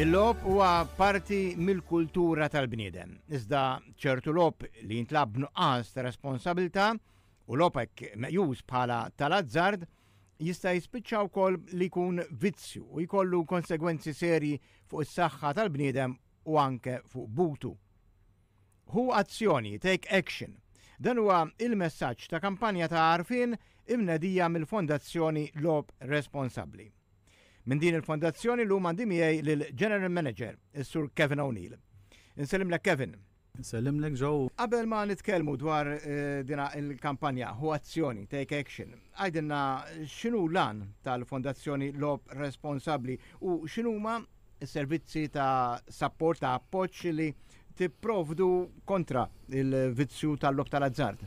Il-lob huwa parti mill-kultura tal-bniedem. Iżda ċertu lob li jintlab nuqqas ta' responsabilità u lobek meqjus bħala tal-azzard jista' jispiċċa wkoll li jkun vizzju u jkollu konsegwenzi serji fuq is-saħħa tal-bniedem u anke fuq butu. Hu azzjoni, take action. Dan huwa il-messaġġ ta' kampanja ta' għarfien imnedija mill-Fondazzjoni Lob Responsabbli. Minn din il-fondazzjoni llum għandi miegħi lill-General Manager, is-Sur Kevin O'Neill. Insellimlek Kevin. Insellimlek Joe. Qabel ma nitkellmu dwar dina il-kampanja Hu Azzjoni, Take Action, għajdilna x'inhu l-għan tal-Fondazzjoni Logħob Responsabbli u x'inhuma servizzi ta' sapport ta' appoġġ li tipprovdu kontra il-vizzju tal-lob tal-azzard.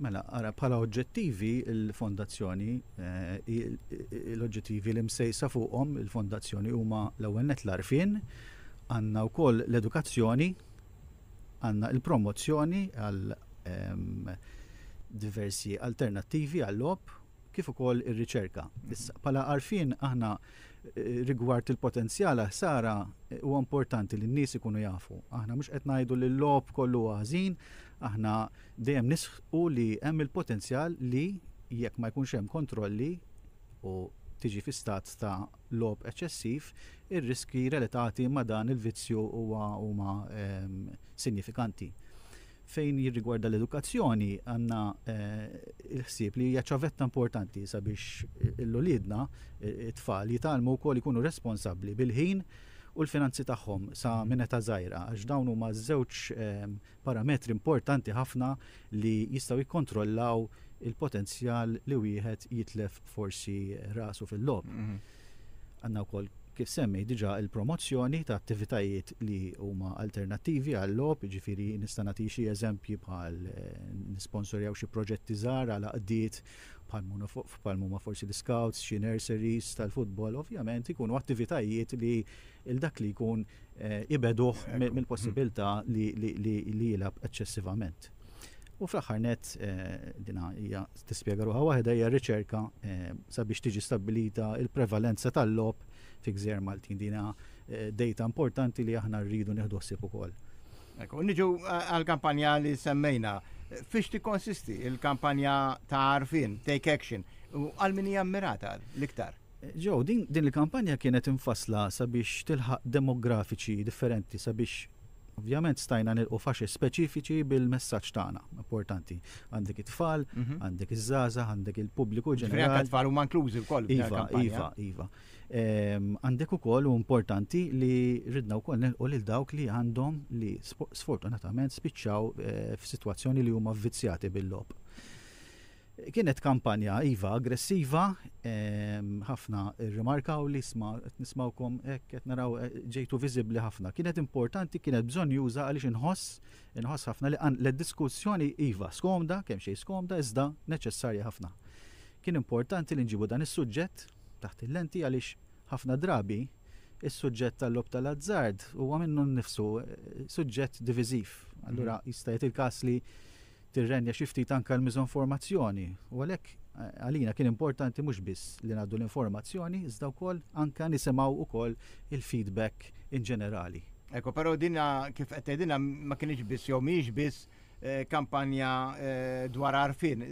Mela, ara bħala oġġettivi il-fondazzjoni, eh, l-oġġettivi li msejsa fuqhom il-fondazzjoni huma l-ewwel net l-arfin, għandna wkoll l-edukazzjoni, għandna il-promozzjoni għal ehm, diversi alternattivi għall-lob kif ukoll ir-riċerka. Issa, bħala arfin aħna Rigward il-potenzjal għal ħsara, huwa importanti li n-nies ikunu jafu. Aħna mhux qed ngħidu li l-logħob kollu huwa ħażin, aħna dejjem nisħqu li hemm il-potenzjal li jekk ma jkunx hemm kontrolli u tiġi fi stat ta' logħob eċċessiv, ir-riskji relatati ma' dan il-vizzju huma sinjifikanti. Fejn jirrigwarda l-edukazzjoni, għandna l-ħsieb li hija ċavetta importanti sabiex l-uliedna, it-tfal, jitgħallmu wkoll ikunu responsabbli bil-ħin u l-finanzi tagħhom sa minn età żgħira għax dawn huma żewġ parametri importanti ħafna li jistgħu jikkontrollaw il-potenzjal li wieħed jitlef forsi rasu fil-logħob. Għandna wkoll, kif semmi diġà, il-promozzjoni ta' attivitajiet li huma alternattivi għal-logħob, jiġifieri nista' nagħti xi eżempji bħal nisponsorjaw xi proġetti żgħar għal għaqdiet bħal huma forsi l-iscouts, xi nurseries tal-futbol, ovvjament ikunu attivitajiet li 'l dak li jkun ibegħduh mill-possibilità li jilgħab eċċessivament. U fl-aħħar net, eh, dina hija tispjega ruħha waħda hija riċerka eh, sabiex tiġi stabbilita il-prevalenza tal-lob fi gżer Maltin. Dina eh, data importanti li aħna rridu nieħdu ħsieb ukoll. Ekku, niġu għal-kampanja li semmejna. Fiex ti konsisti il-kampanja ta' arfin, take action, u għal-min hija l-iktar? Joe, din din il-kampanja kienet imfassla sabiex tilħaq demografiċi differenti sabiex ovvjament stajna nilqu faxex speċifiċi bil-messaġġ tagħna. Importanti. Għandek it-tfal, mhm. għandek iż-żgħażagħ, għandek il-pubbliku ġenerali. Għandek tfal huma inklużi wkoll. Iva, iva, iva. Ehm, għandek ukoll u importanti li ridna wkoll nilqu lil dawk li għandhom li sfortunatament spiċċaw eh, f'sitwazzjoni li huma vvizzjati bil-lob. Kienet kampanja, iva, aggressiva, ħafna rrimarkaw li isma' qed nismgħukom hekk, qed naraw ġejtu viżibbli ħafna. Kienet importanti, kienet bżonnjuża għaliex inħoss, inħoss ħafna li qan l-diskussjoni iva, skomda, kemm xejn skomda iżda neċessarja ħafna. Kien importanti li nġibu dan is-suġġett taħt il-lenti għaliex ħafna drabi is-suġġett tal-logħob tal-azzard huwa minnu nnifsu suġġett diviżiv. Allura jista' jgħid il-każ li Tirrenja xi ftit anke l-miżonformazzjoni u għalhekk għalina kien importanti mhux biss li ngħaddu l-informazzjoni iżda wkoll anke nisimgħu wkoll il-feedback in ġenerali. Ecco, però din kif qed tgħidilna ma kinitx biss jew mhijiex biss kampanja dwar għarfien.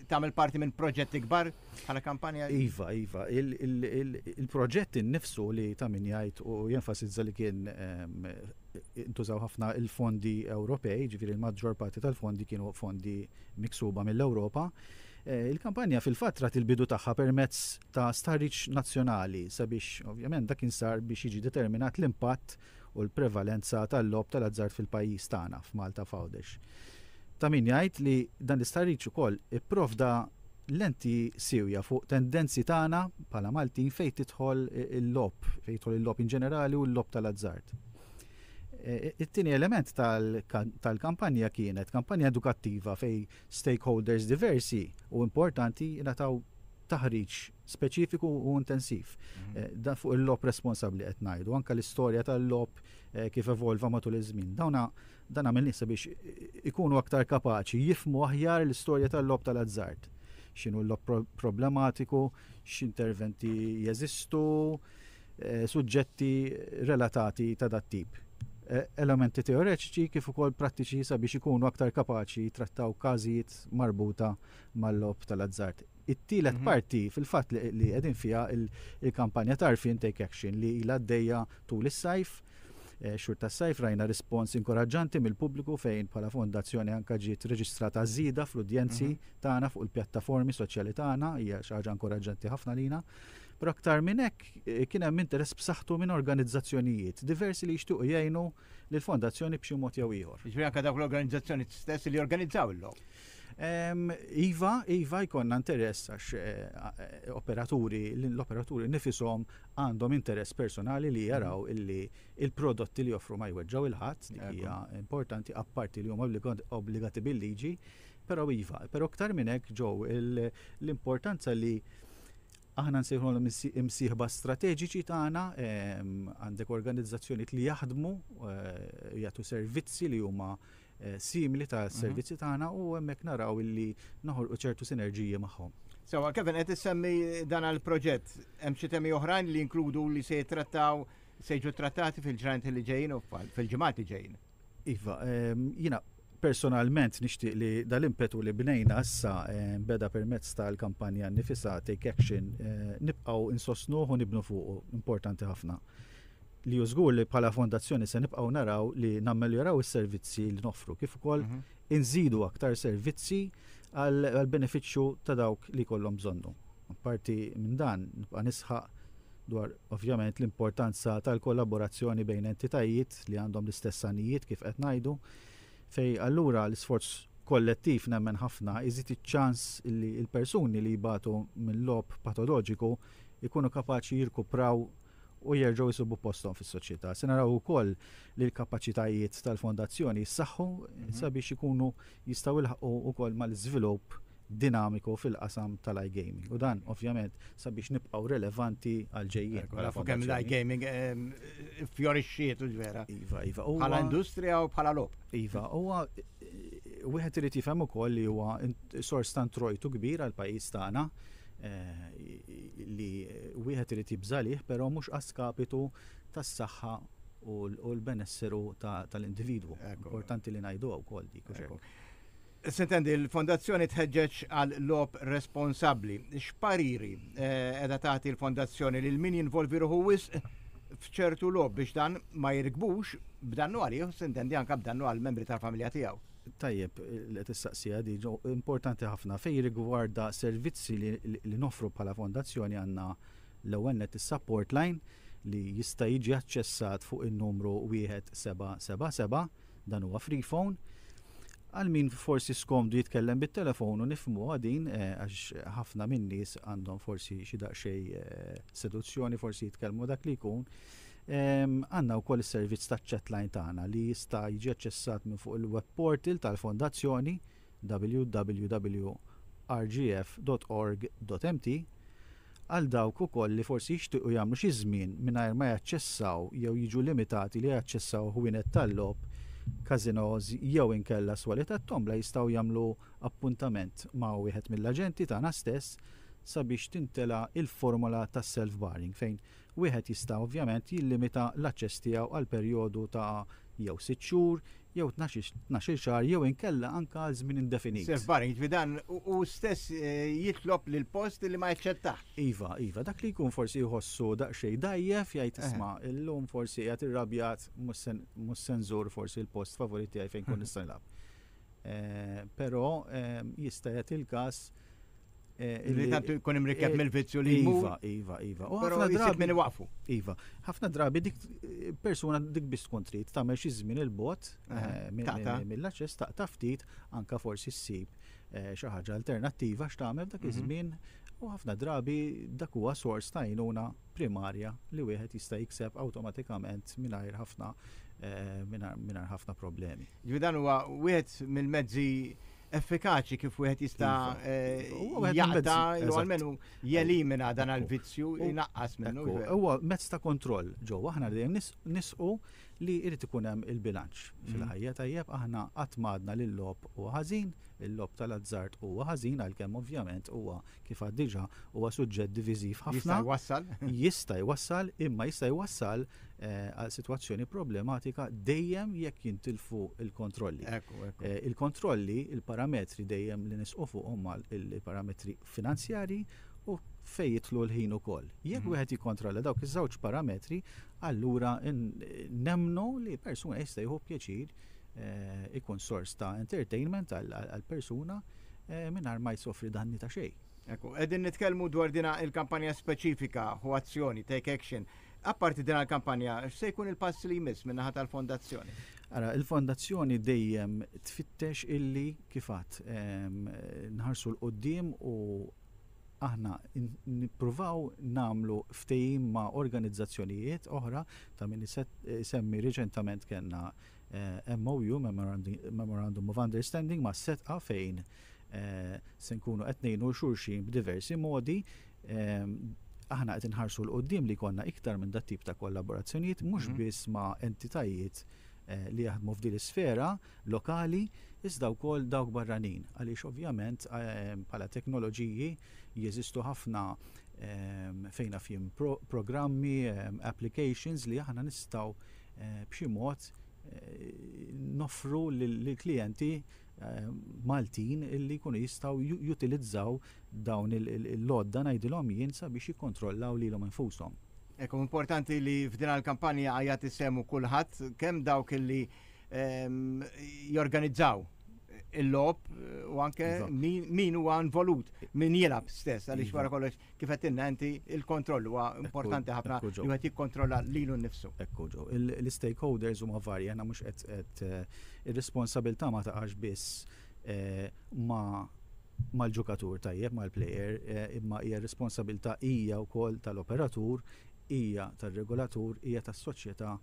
tagħmel parti minn proġett ikbar bħala kampanja? Iva, iva. Il-proġett innifsu li ta' min jgħid u jenfasizza li kien ehm, intużaw ħafna il-fondi Ewropej, ġifieri l-maġġor parti tal-fondi kienu fondi miksuba mill-Ewropa. Eh, il-kampanja fil-fatra til-bidu tagħha permezz ta' starriċ nazzjonali sabiex ovvjament dak insar biex jiġi determinat l-impatt u l-prevalenza tal-logħob tal-azzard fil-pajjiż tagħna, f'Malta, f'Għawdex. Ta' min jgħid li dan l-istħarriġ ukoll ipprovda lenti siewja fuq tendenzi tagħna bħala Maltin fejn tidħol il-logħob, fejn jidħol il-logħob in ġenerali u l-logħob tal-azzard. It-tieni element tal-kampanja kienet kampanja edukattiva fejn stakeholders diversi u importanti ngħataw taħriġ speċifiku u intensiv. Mhm. Eh, da fuq il-lob responsabli qed ngħidu, anke l-istorja tal-lob eh, kif evolva matul iż-żmien. Dawna dan għamilni sabiex ikunu aktar kapaċi jifmu aħjar l-istorja tal-lob tal-azzard. X'inhu l-lob problematiku, x'interventi jeżistu, eh, suġġetti relatati ta' dat tip. Elementi teoreċiċi kif ukoll prattiċi sabiex ikunu aktar kapaċi trattaw każijiet marbuta mal-lob tal-azzard. it-tielet mhm. parti fil-fatt li qegħdin fiha il-kampanja tarfin take action li ilha għaddejja tul is-sajf eh, xhur tas-sajf rajna rispons inkoraġġanti mill-pubbliku fejn bħala fondazzjoni anka ġiet reġistrata żieda fl-udjenzi mhm. tagħna fuq il-pjattaformi soċjali tagħna hija xi ħaġa inkoraġġanti ħafna lina. Però aktar minn hekk eh, kien hemm interess b'saħħtu minn organizzazzjonijiet diversi li jixtiequ jgħinu lill-fondazzjoni b'xi mod jew ieħor. Jiġri anke dawk l-organizzazzjoni stess li jorganizzaw illum. Iva, iva jkollna interess għax operaturi, l-operaturi nnifishom għandhom interess personali li jaraw li l-prodotti li joffru ma jweġġgħu lil ħadd, dik hija importanti, apparti li huma obbligati bil-liġi. Però iva, però iktar minn hekk ġo l-importanza li aħna nsejħulhom imsieħba strateġiċi tagħna, għandek organizzazzjonijiet li jaħdmu, jagħtu servizzi li huma simili ta' servizzi tagħna u hemmhekk naraw illi noħolqu ċertu sinerġiji magħhom. Sewa, Kevin, qed issemmi dan għal proġett hemm xi temi oħrajn li jinkludu li se jittrattaw se jiġu trattati fil-ġranet li ġejjin u fil-ġimgħat li ġejjin. Iva, ehm, jiena personalment nixtieq li dal-impetu li bnejna issa eh, beda permezz tal-kampanja nifisa Take Action eh, nibqgħu insostnuh u nibnu fuqu, importanti ħafna. li hu żgur li bħala fondazzjoni se nibqgħu naraw li nammeljoraw is-servizzi li noffru kif ukoll inżidu aktar servizzi għall-benefiċċju ta' dawk li jkollhom bżonnhom. Apparti minn dan, nibqa' nisħaq dwar ovvjament l-importanza tal-kollaborazzjoni bejn entitajiet li għandhom l-istess għanijiet kif qed ngħidu, fejn allura l-isforz kollettiv nemmen ħafna iżid iċ-ċans li l-persuni li jbatu minn logħob patoloġiku jkunu kapaċi jirkupraw u jerġgħu jsibu posthom fis-soċjetà. Se naraw ukoll li l-kapaċitajiet tal-Fondazzjoni jissaħħu sabiex ikunu jistgħu jilħqu wkoll mal-iżvilupp dinamiku fil-qasam tal-iGaming. U dan, ovvjament, sabiex nibqgħu relevanti għall-ġejjieni. Ekku, nafu kemm l-iGaming ehm, fjorixxiet u ġvera. Iva, iva. Bħala industrija u bħala lob. Iva, huwa wieħed irid jifhem ukoll li huwa sors ta' introjtu kbir għall-pajjiż tagħna eh, li wieħed irid jibża' għalih però mhux a skapitu tas-saħħa u l-benesseru tal-individwu. Importanti li ngħiduha wkoll dik, hux hekk? Sintendi, il-Fondazzjoni tħeġġeġ għal logħob responsabbli. X'pariri qiegħda tagħti l-Fondazzjoni lil min jinvolvi ruħu wisq f'ċertu logħob biex dan ma jirkbux b'dannu għalih u sintendi anke b'dannu għall-membri tal-familja tiegħu? Tajjeb li qed issaqsiha din, ġo importanti ħafna. Fejn jirrigwarda servizzi li li noffru bħala fondazzjoni għandna l-ewwel nett is-support line li jista' jiġi aċċessat fuq in-numru 1777, dan huwa free phone. Għal min forsi skomdu jitkellem bit-telefon u nifhmuha din għax ħafna min-nies għandhom forsi xi daqsxejn seduzzjoni forsi jitkellmu dak li jkun. Għandna wkoll is-servizz taċ-chatline tagħna li jista' jiġi aċċessat minn fuq il-web portal tal-Fondazzjoni www.rgf.org.mt għal dawk ukoll li forsi jixtiequ jagħmlu xi żmien mingħajr ma jaċċessaw jew jiġu limitati li jaċċessaw ħwienet tal-logħob, każinòs jew inkella swali tat-tombla jistgħu jagħmlu appuntament ma' wieħed mill-aġenti tagħna stess sabiex timtela l-formola tas-self-barring fejn Wieħed jista' ovvjament jillimita l-aċċess tiegħu għal perjodu ta' jew sitt xhur, jew tnax-il xahar jew inkella anke għal żmien indefinit. Safe barring, jiġifieri dan hu stess jitlob lill-post li ma jaċċettahx. Iva, iva. Dak li jkun forsi jħossu daqsxejn dgħajjef jgħid isma' illum forsi qiegħed irrabjat mhux se nżur forsi l-post favorit tiegħi fejn inkun nista' nilgħab. Però jista' jagħti l-każ Li tantu jkun imrikeb mill-vizzju li iva, iva, iva. U ħafna drabi minn waqfu. Iva, ħafna drabi dik persuna dik biss tkun trid tagħmel xi żmien il-bot mill-aċċess taqta' ftit anka forsi ssib xi ħaġa alternattiva x'tagħmel dak iż-żmien U ħafna drabi dak huwa sors ta' jnuna primarja li wieħed jista' jikseb awtomatikament mingħajr ħafna eh, mingħajr ħafna problemi. Ġifieri dan huwa wieħed mill-mezzi effikaċi kif wieħed jista' iva. eh, jaqta jew almenu jelimina dan għal-vizzju jnaqqas minnu. Huwa mezz ta' kontroll ġo aħna dejjem nisqu li jrid ikun hemm il-bilanċ mm. fil-ħajja tajjeb aħna qatt madna li l-lob huwa ħażin, il-lob tal-azzard huwa ħażin għalkemm ovvjament huwa kif għad diġà huwa suġġett diviżiv ħafna. Jista' jwassal? Jista' jwassal, imma jista' jwassal għal sitwazzjoni problematika dejjem jekk jintilfu l-kontrolli. Il-kontrolli, il-parametri dejjem li nisqu fuqhom huma l-parametri finanzjarji u fejn jidħlu l-ħin ukoll. Jekk wieħed jikkontrolla dawk iż-żewġ parametri, allura nemmnu li persuna jista' jieħu pjaċir ikun sors ta' entertainment għal persuna mingħajr ma jsofri danni ta' xejn. Qegħdin nitkellmu dwar din il-kampanja speċifika, Ħu Azzjoni, Take Action, Apparti din għal-kampanja, x'se jkun il-pass li jmiss min-naħa tal-fondazzjoni? Ara, il-fondazzjoni dejjem tfittex illi kifat ehm, nħarsu l-qoddim u aħna nippruvaw namlu ftejim ma' organizzazzjonijiet oħra ta' min eh, semmi reċentament kellna eh, MOU, Memorandum of Understanding, ma' setqa fejn Se nkunu qed ngħinu 'l xulxin b'diversi modi. Aħna qed inħarsu 'l quddiem li jkollna iktar minn dat-tip ta' kollaborazzjonijiet, mhux biss ma' entitajiet li jaħdmu f'din l-isfera lokali, iżda wkoll dawk barranin, għaliex ovvjament bħala teknoloġiji jeżistu ħafna fejn af jien programmi, applications li aħna nistgħu b'xi mod noffru lill-klijenti Maltin li jkunu jistgħu jutilizzaw dawn l-għodda ngħidilhom jien sabiex jikkontrollaw lilhom infushom. Hekk hu importanti li f'din il-kampanja jagħti sehmu kulħadd, kemm dawk li jorganizzaw il-logħob u anke min huwa involut, min jilgħab stess għaliex wara kollox Kif għedtilna inti, il-kontroll huwa importanti ħafna li wieħed jikkontrolla lilu nnifsu. Ekku ġo. L-istakeholders huma varji, aħna mhux qed qed ir-responsabilità ma taqax biss ma' mal-ġukatur tajjeb, mal-player, imma hija r-responsabilità hija wkoll tal-operatur, hija tar-regolatur, hija tas-soċjetà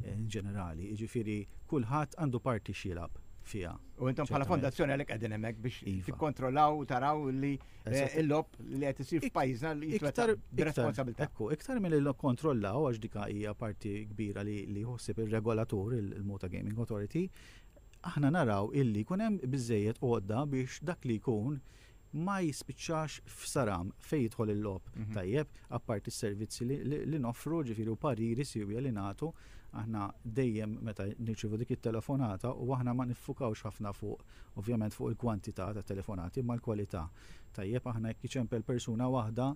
in ġenerali, jiġifieri kulħadd għandu parti x'jilgħab fiha. U intom bħala fondazzjoni għalhekk qegħdin hemmhekk biex iva. tikkontrollaw u taraw li eh, l-lob li qed isir f'pajjiżna li jitwettaq b'responsabilità. Ekku, iktar milli nikkontrollaw għax dika hija parti kbira li jħossib ir-regolatur il-Mota Gaming Authority, aħna naraw illi jkun hemm biżejjed għodda biex dak li jkun ma jispiċċax f'saram fejn jidħol il-logħob tajjeb, apparti s-servizzi li noffru, ġifieri u pariri siewja li nagħtu, aħna dejjem meta nirċievu dik it-telefonata u aħna ma niffukawx ħafna fuq, ovvjament fuq il-kwantità ta' telefonati imma l-kwalità, tajjeb, aħna jekk jiċempel persuna waħda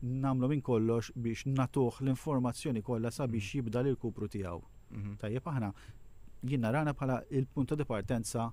nagħmlu minn kollox biex nagħtuh l-informazzjoni kollha sabiex jibda l-irkupru tiegħu, tajjeb, aħna jien narana bħala l-punto di partenza,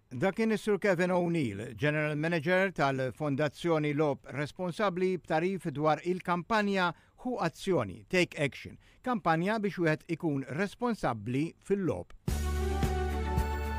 Dak kien is-Sur Kevin O'Neill, General Manager tal-Fondazzjoni Logħob Responsabbli b'tagħrif dwar il-kampanja Ħu Azzjoni, Take Action, kampanja biex wieħed ikun responsabbli fil-logħob.